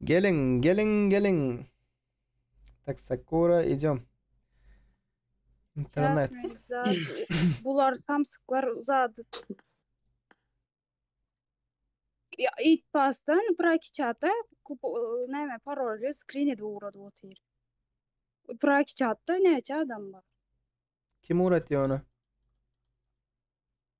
Geliň, geliň, geliň. Tak sakura idem. Internet. Bular samsyklar uzady. Ya it pastan praki çata kup näme parolýa skrin edip ugrady otyr. Praki çatda näçe adam bar? Kim uğratýar ony?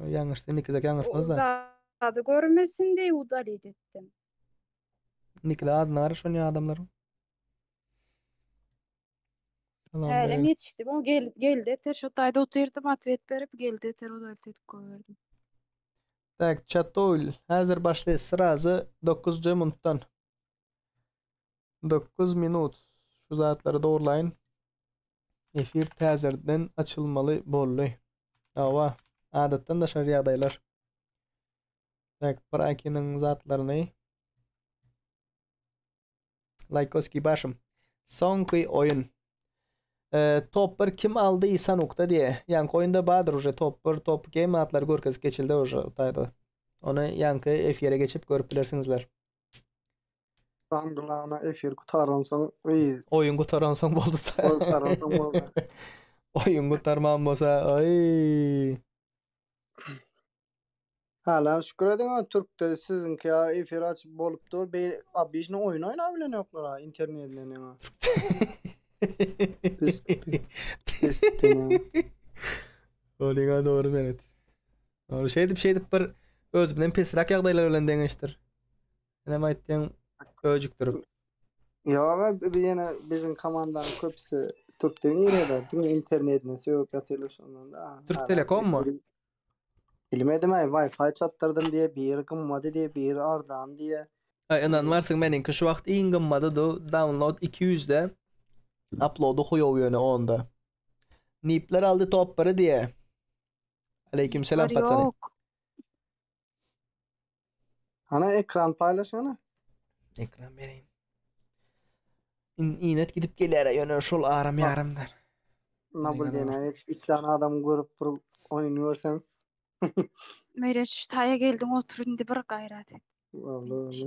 Ýalňyşdy, Nikizek ýalňyşmaz-da. Zady görmesin diýip udalit etdim. Nikize az nary şonýa adamlaryň. Hälem ýetişdi. Bu gel geldi eter şu taýda otyrdym atwet berip geldi eter udalit edip goýberdim. Tak, çatoýl. Häzir başlaýas. Srazy 9-njy minutdan. Dokuz minut şu zatlary dogrylaýyn. Efir täzerden açylmaly boldy. Hawa, adatdan daşary ýagdaýlar. Tak, Prakiniň zatlaryny Laýkoskiý başym. Soňky oýun. Top 1 kim aldy Sanukda diýe. Ýaňky oýunda bardyr uje top 1, top 2 matlary görkezip geçildi uje taýda. Ony ýaňky efire geçip görüp bilersiňizler. Gan glana efir gutaransoň yy. Oýun gutaransoň boldy. Oýun gutaransoň boldy. Oýun gutarman bolsa yy. Hala şükür ediň a türkde siziňki ýa efir açyp bolup dur be obyjny oýun oýnap bilen ýoklar a internetine ne a. Pis pis pis. Olyňa dogry belet. Ol şeýdip şeýdip bir öz bilen pesräk ýagdaýlar bilen deňeşdir. Sen aýtdyň öjükdirip. Ýok, biz ýene biziň komandanyň köpüsi türk dilini öýreder. Diňe internetini sögüp ýatyrlar şondan da. Türk Telekommy? Bilmedim ay Wi-Fi çatdyrdım diye biri gymmadı diye biri ardan diye. Ay inanmarsın meniňki şu wagt iň gymmaty do download 200 de uploady huyow ýöne onda. Nipler aldy top 1 diye. Aleyküm selam Bar paçany. yok. Ana ekran paylaşana. Ekran bereýin. İn, inet gidip geler, ýöne şol aram ýaramdyr. Nabul Eyvallah. diyene geçip islan adam görüp bir oyun görsen. Meýreç şu taýa geldiň otur indi bir gaýrat et. Vallahi.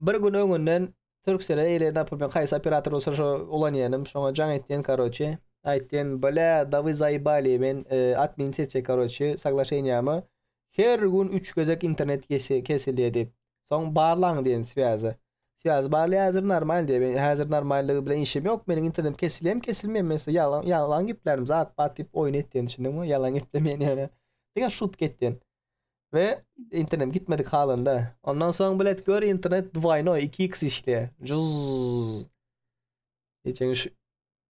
Bir gün öňünden Turkcell-e ile napr men haýsy operator bolsa şo ulanýanym şoňa jaň etýän karoçe aýtýan bla dawy zaýbali men admin seçjek karoçe soglaşeniýamy her gün üç gezek internet kesilýä diýip soň barlaň diýen swýazy swýazy barlaýa häzir normal diýe men häzir normallygy bilen işim ýok meniň internetim kesilýämi kesilmeýämi men size ýalan ýalan geplänim zat bat diýip oýun etýän düşündiňmi ýalan geplemeýän ýöne diňe şutk etýän we internet gitmedik halynda. Ondan soň bilet gör internet dwaýno 2x işleýär. Juz. Geçen şu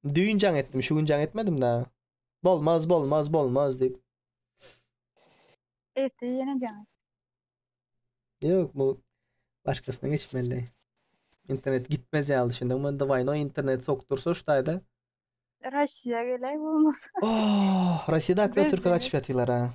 düýn jaň etdim, şu gün jaň etmedim da. Bolmaz, bolmaz, bolmaz diýip. Ertir ýene jaň et. Ýok, bu başgasyna geçmeli. İnternet gitmez ya düşündün mü? Davayno internet soktursa şu tayda. Rusya gelay olmaz. Oh, Rusya'da akla Türk'e kaçıp yatılar ha.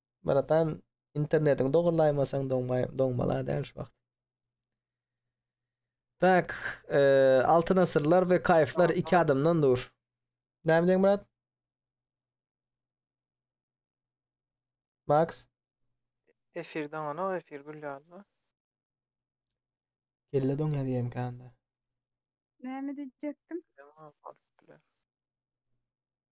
Myratan internetiňi dogrylaýmasaň doňmaý doňmala däl şu wagt. Tak, e, altyn asyrlar we kaýflar iki adamdan dur. Näme diýen Murat? Max? Efir daňana efir gül ýaly. Kelle doň ýazýam kanda. Näme diýjekdim? Tamam, alyp biler.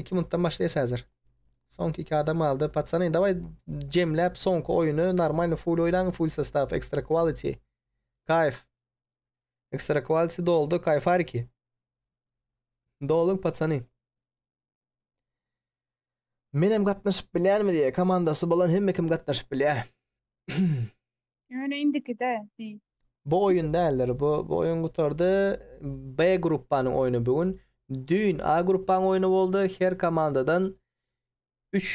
2 minutdan başlaýas häzir. Soňky iki adam aldy. Patsany, dawai jemläp soňky oýuny normalny full oýnaň, full sostaw, extra quality. Kayf. Extra quality doldy, kayfariki. Dolun patsany. Menem gatnaşyp bilýänmi diýýär. Komandasy bolan hemme kim gatnaşyp bilýär. Ýöne indikide diý. Bu oýun däldir. Bu bu oýun gutardy. B gruppanyň oýny bu gün. Düýn A gruppanyň oýny boldy. Her komandadan üç,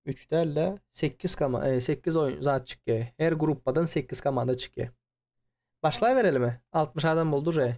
üç däl-de sekiz koma, e, sekiz oýun zat çykýar. Her gruppadan sekiz komanda çykýar. Başlaýberelimi? Altmyş adam boldy uje.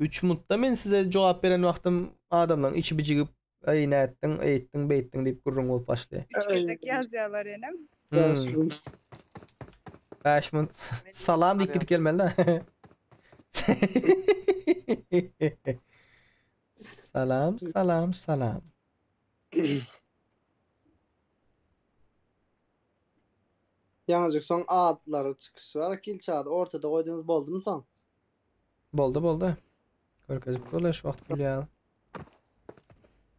Üç mntda men size jogap beren wagtym adamlaň içi bijigip eý nätdiň eýtdiň beýtdiň diýip gürrüň bolup başly. Üç gezek ýazýalar enem. Bäş munt. Bäş munt. Salam diýip gidip gelmeli da. Salam salam salam. Ýaňyjyk soň adlary çykyş bar ilki ady ortada goýdyňyz boldumy soň. Boldy boldy. Görkezip durlar şu wagt gülýär.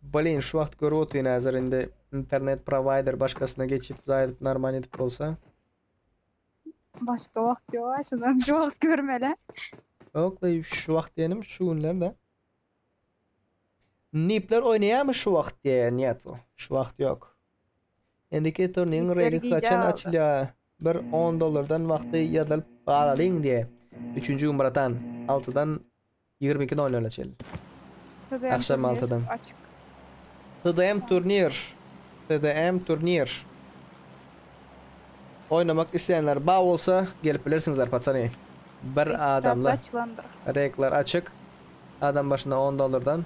Blin şu wagt görüp otyn hazır indi internet provider başkasyna geçip zaýdyp normal edip bolsa. Başga wagt ýok ha şundan şu wagt görmeli. Yok da şu wagt diýenim şu günler de. Nipler oýnaýarmy şu wagt diýen ýat o. Şu wagt ýok. Indiketor niň reňi haçan açylýa bir on dollardan wagty ýazylyp galalyň diýe üçünji gün bratan altydan ýigrimi iki nol nola çenli agşam altydan açyk tdm turnir tdm turnir oýnamak isleýänler ba bolsa gelip bilersiňizler patsany bir adamly reklar açyk adam başyna on dollardan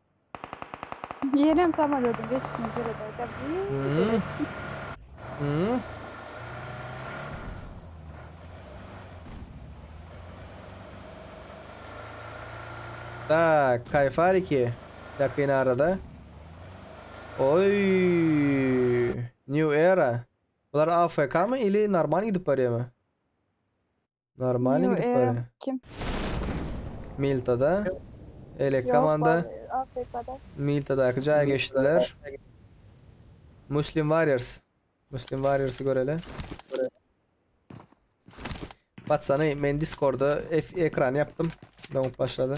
Yenem samolýodyň geçişine seredäýdä. Tak, kayfariki. Yakın arada. Oy. New era. Bular AFK mı ili normal gidip barýarmy? Normalny Nýu gidip Era barýa. kim? Miltada, Elek Ýok, komanda bar Afrikada. Miltadaky jaýa geçdiler. Muslim Warriors. Muslim Warriorsy göreli. Batsany men Discorda ef- ekran ýapdym. Dowup başlady.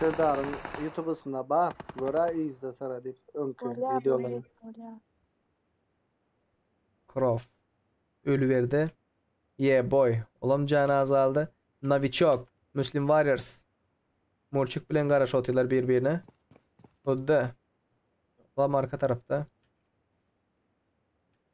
Serdaryň ýutubysynda bar göra yzda syra diýip öňki wideolary. Prof. Ölüberdi. Yeah boy. Olam jany azaldy. Novichok. Muslim Warriors. Murçik bilen garaşyp otyrlar bir birine. Huddy. Lam arka tarapda.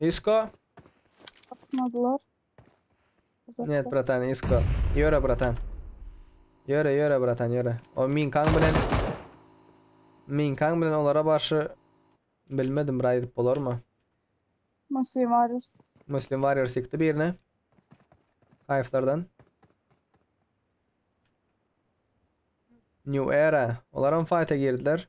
Isko. Basmadylar. Net bratan isko. Ýöre bratan. Ýöre ýöre bratan ýöre. O minkaň bilen minkaň bilen olara barşy bilmedim bir aýdyp bolarmy? Muslim Warriors. Muslim Warriors ýykdy birini. Kaýflardan. New Era. Olar hem fayta girdiler.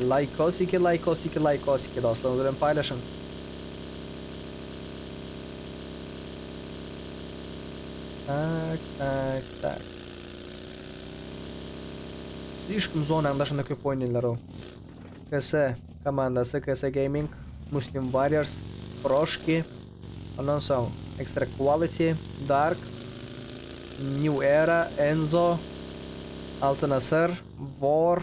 Laýkosiki laýkosiki laýkosiki dostlaryňyz bilen paýlaşyň. Tak tak tak. Slişkom zonaň daşynda köp oýnaýlar o. KS komandasy KS Gaming, Muslim Warriors, Proşki. Ondan soň Extra Quality, Dark, New Era, Enzo, Altyn Asyr, War,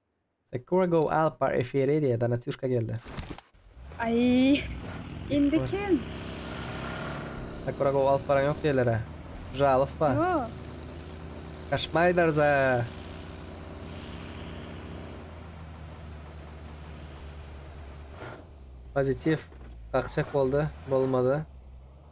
Sakura go alyp bar efiri diýe Donatýuşka geldi. Aý indi kim? Sakura go alyp baran ýok diýerler a. Žalosba. Ýok. Kaşmaýlar za. Pozitiw kakjak boldy, bolmady.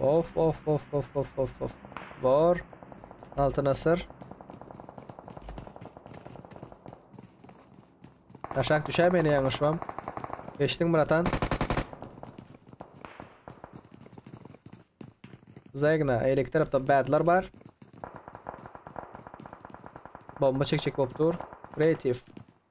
Of of of of of of of. Bor. Altyn asyr. Aşak düşäp ene ýaňyşmam. Geçdiň bratan. Zegna, eýleki tarapda badlar bar. Bomba çekjek bolup dur. Kreativ.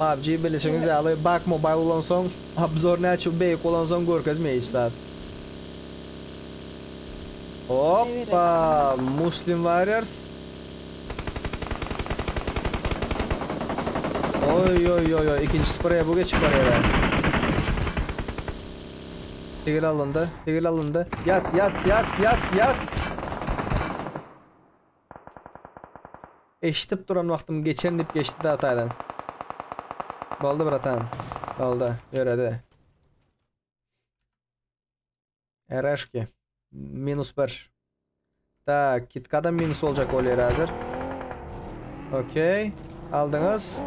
PUBG bilişiňiz ýaly bug mobile bolansoň obzor näçe beýik bolansoň görkezmeýär hiç zat. Hoppa Muslim warriors. Oý oý oý oý ikinji spreýe bu geçip barýara. Tigil alyndy tigil alyndy ýat ýat ýat ýat ýat. Eşdip duran wagtym geçen diyip geçdi dagy taýdan. Boldy bratan. Boldy. Ýöredi. Ereşki. Minus bir. Tak, kitkada minus boljak bolýar häzir. Okey. Aldyňyz.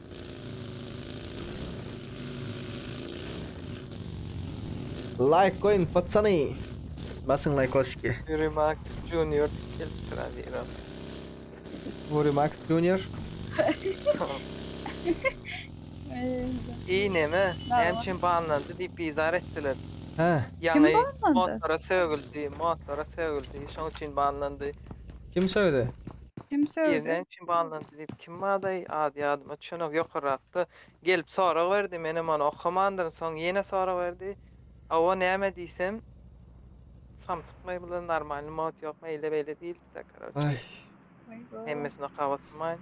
Laýk goýuň patsany. Basyň laýkoski. Ýuri Max Junior gelip duran ýerim. Ýuri Max Junior. Eee neme? Näme üçin banlandy diýip bizar etdiler. Hä. Ýaňy motora sögüldi, motora sögüldi, şoň üçin banlandy. Kim sögdi? Kim sögdi? Irden kim alyndy diýip kim bardaý ady ýadyma düşenok ýokarrakda gelip sorag berdi menem ony okamandyryn soň ýene sorag berdi awo näme diýsem samsykmy bu normalny mod ýokmy eýle beýle diýilipdir karoçe Aý. Aýbo. hemmesini okap oturmaýyn.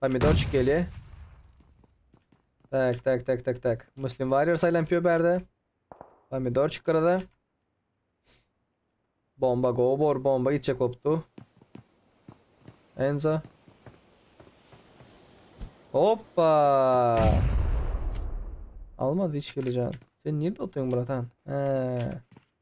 Pomidorçik gelýär. Tak, tak, tak, tak, tak. Muslim Warrior saýlanyp ýör bärde. Pomidorçik gyrada. Bomba go bor, bomba gitjek bolupdy. Enzo. Hoppa! Almaz hiç kilijan. Sen nirde otyň bratan? He.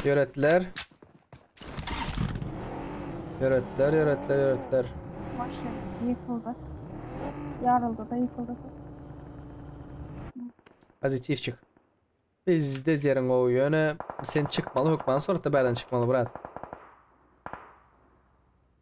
Ýöretler. Ýöretler, ýöretler, ýöretler. Maşyn ýykyldy. Ýaryldy-da ýykyldy. Pozitivçik. Bizde zeriň gowy, ýöne sen çykmaly hökmany suratda bärden çykmaly brat.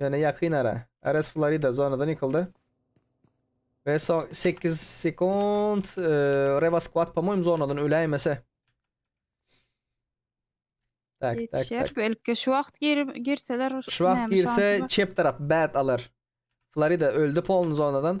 Ýöne ýakyn ara. Ares Florida zonadan ýykyldy. Ve son 8 sekund. E, Reva Squad pamoýim zonadan öläýmese. Tak, tak, tak. Geçer. Belki şu wagt gir- girseler Şu wagt näme girse şansy bar? çep tarap bad alar. Florida öldü polny zonadan.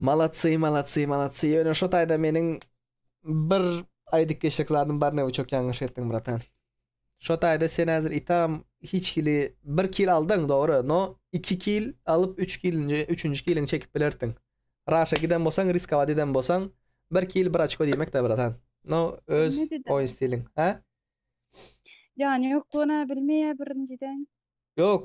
Malatsy malatsy malatsy ýöne şo taýda meniň bir aýdyp geçjek zadym bar näme çok ýalňyş etdiň bratan. Şo taýda sen häzir itam hiç kili bir kil aldyň dogry no iki kil alyp üç kilinji üçünji kiliňi çekip bilerdiň. Raşa giden bolsaň riskowat eden bolsaň bir kil bir açko diýmekdä bratan. No öz oýun stiliň. Hä? Jany ýok gona bilmeýär birinjiden. Ýok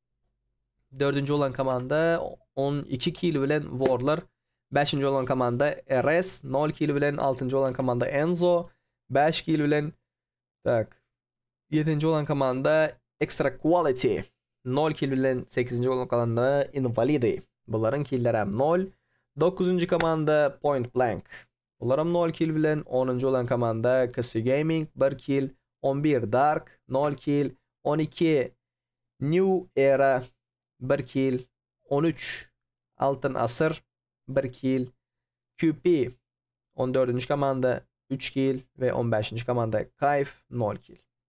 Dördünji bolan komanda 12 kili bilen Worlar. Beşinji bolan komanda RS 0 kili bilen. Altynjy bolan komanda Enzo 5 kili bilen. Tak. Yedinci bolan komanda Extra Quality 0 kili bilen. Sekizinci bolan komanda Invalidi. Bularyň killeri hem 0. Dokuzuncu komanda Point Blank. Olaram nol kill bilen onunjy bolan komanda Kissy Gaming bir kill, on bir Dark nol kill, on iki New Era bir kill, on üç Altyn Asyr bir kill, QP on dördünji komanda üç kill we on bäşinji komanda Kayf nol kill.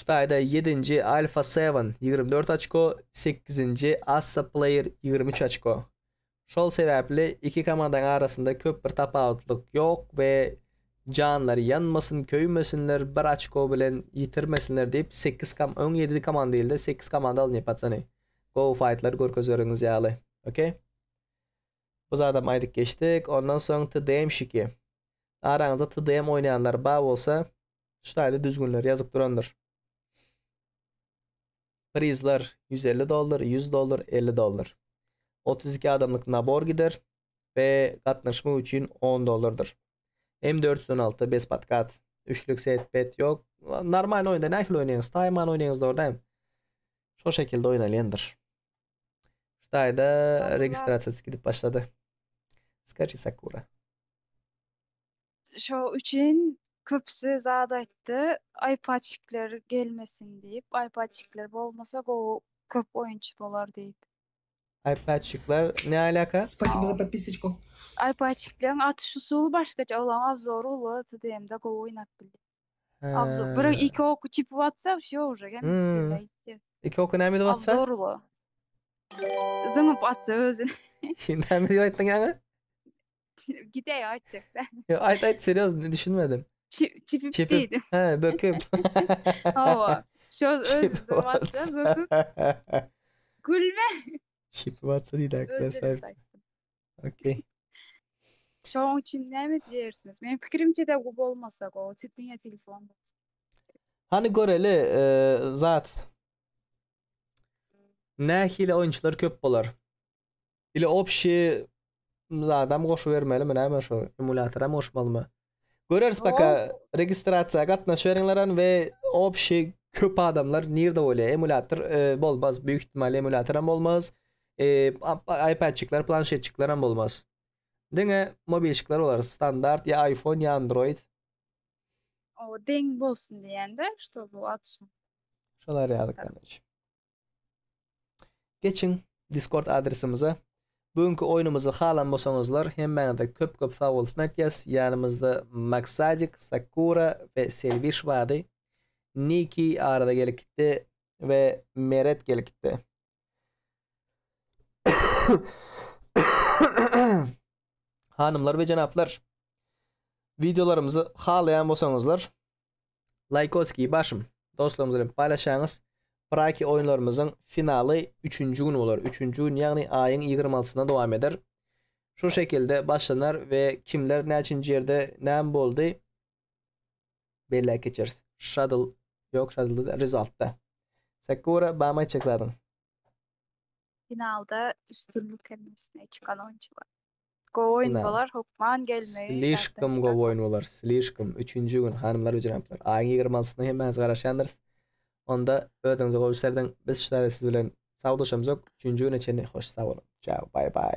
Ştaýda ýedinji Alfa Seven, ýigrimi dört açko, sekizinji Assa Player, ýigrimi üç açko. Şol sebäpli iki komandaň arasynda köp bir tapawutlyk ýok we janlary ýanmasyn, köýmesinler, bir açko bilen ýitirmesinler diýip, sekiz kom öň ýedi komanda ildi, sekiz komanda alnyp paçany. Gowy faýtlar görkezeriňiz ýaly. Ok. Bu zadam aýdyp geçdik. Ondan soň TDM-şiki. Araňyzda TDM oýnaýanlar bar bolsa, çytaýly düzgünleri ýazyp durandyr. Prizler ýüz elli dollar, ýüz dollar, elli dollar. Otuz iki adamlyk nabor gider we gatnaşmak üçin on dollardyr. M dört ýüz on alty bez podkat. Üçlük set bet ýok. Normalny oýunda nähili oýnaýyňyz? Taýman oýnaýyňyz dogry dämi? Şol şekilde oýnalýandyr. Hytaýda registrasiýa gidip başlady. Skaçi Sakura. Şo üçin köpüsi zat aýtdy. Aýpaçikler gelmesin diýip. Aýpaçikler bolmasa gowy köp oýunçy bolar diýip. Aýpaçikler ne alaka? Spasibo za podpisocku. Aýpaçikleň atyş usuly başgaça olaň obzory uly TDM-de gowy oýnap bilýär. Obzor bir He. iki oky çypyp atsa wsýo uje hemmesi Hmm. kelle gitýär. Iki oky näme edip atsa? Obzor uly. Zyňyp atsa özüni. Şi näme diýip aýtdyň ýaňy? Gide ya açacaklar. Yo ayt ayt seryoz ne düşünmedim. Çip, çipip, Çipip. dedim. He böküp. Hava. Şu öz Çipip durmakta atsa. böküp gülme. Çipip atsa değil Öz arkadaş sahip. dedim. Okey. Şoň üçin näme diýersiniz? Meniň pikirimçe de bu bolmasa go. Çetine telefon. Hani göreli e, zat. Nähili oyuncular köp bolar? Ile opşi zadam goşu bermeli mi näme şu emulýatoram goşmalymy? Göreris baka registrasiýa gatnaşýaryňlaran we opşi köp adamlar nirde bolýar? Emulýator e, bolmaz. Büyük ihtimal emulýatoram bolmaz. E, iPadçikler, planşetçikleram bolmaz. Diňe mobilçikler bolar. Standart ya iPhone ya Android. O deň bolsun diýende, ştoby atşyn. Şolar ýaly kardeş. Geçiň Discord adresimize. Bu günki oýnumyzy halan bolsaňyzlar hemmäňize köp köp sag bolsun aýtýas. Ýanymyzda Maksadik, Sakura we Selwish bardy. Niki arada gelip gitdi we Meret gelip gitdi. Hanymlar we jenaplar, wideolarymyzy halaýan bolsaňyzlar Laýkoskiý başym. Dostlarymyz bilen paýlaşaňyz. Praki oýunlarymyzyň finaly üçünji gün bolar. Üçünji gün ýagny aýyň ýigrimi altysyna dowam eder. Şu şekilde başlanar we kimler näçinji ýerde näme boldy belläp geçeris. Şadl ýok şadlda däl rezaltda. Sakura bamy aýtjak zadyň. Finalda üstünlik hemmesine çykan oýunçylar. Gowy oýun Ynha. bolar, hökman gelmegi Slişkom ýatdan gowy oýun çykarma. bolar, slişkom. Üçünji gün, hanymlar we jenaplar, aýyň ýigrimi altysyna hemmäňiz garaşýandyrys. Onda özüňize gowy serediň. Biz şu saatte siz bilen sawlaşamzok. Üçünji güne çenli hoş sag boluň. Çao, baý-baý.